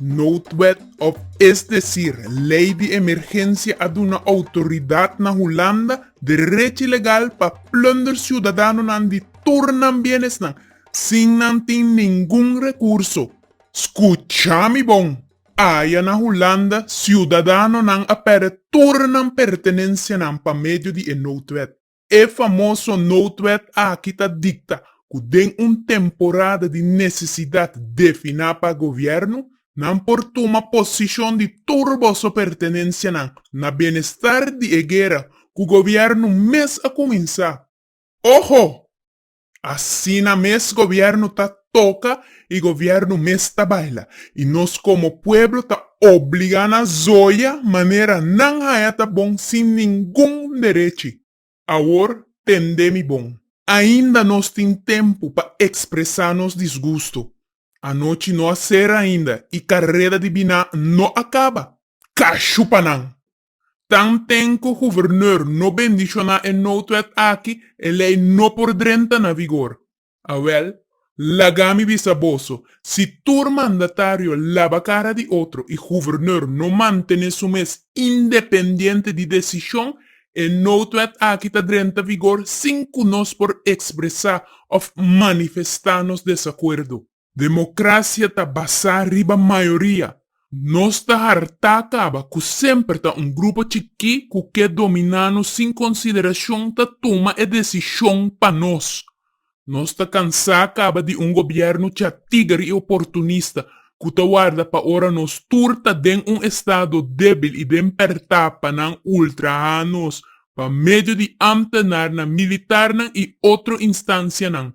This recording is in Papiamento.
Noodwet of es desir Lei di Emergensia a duna outoridat na Hulanda derechi legal pa plunder siudadanonan di tur nan bienesnan sin nan tin ningun rekurso. Skucha mi bon! Aya na Hulanda siudadanonan a pèrdè tur nan pertenensianan pa medio di e noodwet. E famoso noodwet aki ta dikta ku den un temporada di nesesidat definá pa gobièrnu, nan por tuma posishon di tur boso pertenensianan na benestar di e guera ku gobièrnu mes a kuminsá. Oho! Asina mes gobierno ta toca y gobierno mes ta baila y nos como pueblo ta obliga na zoya manera nan haya ta bon sin ningun derechi. Awor tende mi bon. Ainda nos tin tempo pa expresa nos disgusto. Anochi no a cera ainda y careda di bina no a caba. Cashu pa nan! Tanten ku gubernur no bendishoná e noutwet aki, e lei no por drenta na vigor. Awèl, laga mi bisa boso, si tur mandatario laba kara di otro i gubernur no mantené su mes independiente di desishon, e noutwet aki ta drenta vigor sin ku nos por ekspresá òf manifestá nos desakuerdo. Democracia ta basá riba mayoria. Nos ta hartá caba cu semper ta un grupo chiqui cu ke dominá nos sin consideracion ta tuma e decision pa nos. Nos ta cansá caba di un gobierno chatiger y oportunista cu ta warda pa ora nos tur ta den un estado debil y den pertá pa nan ultrahá nos pa medio di ambtenarnan, militarnan y otro instancianan.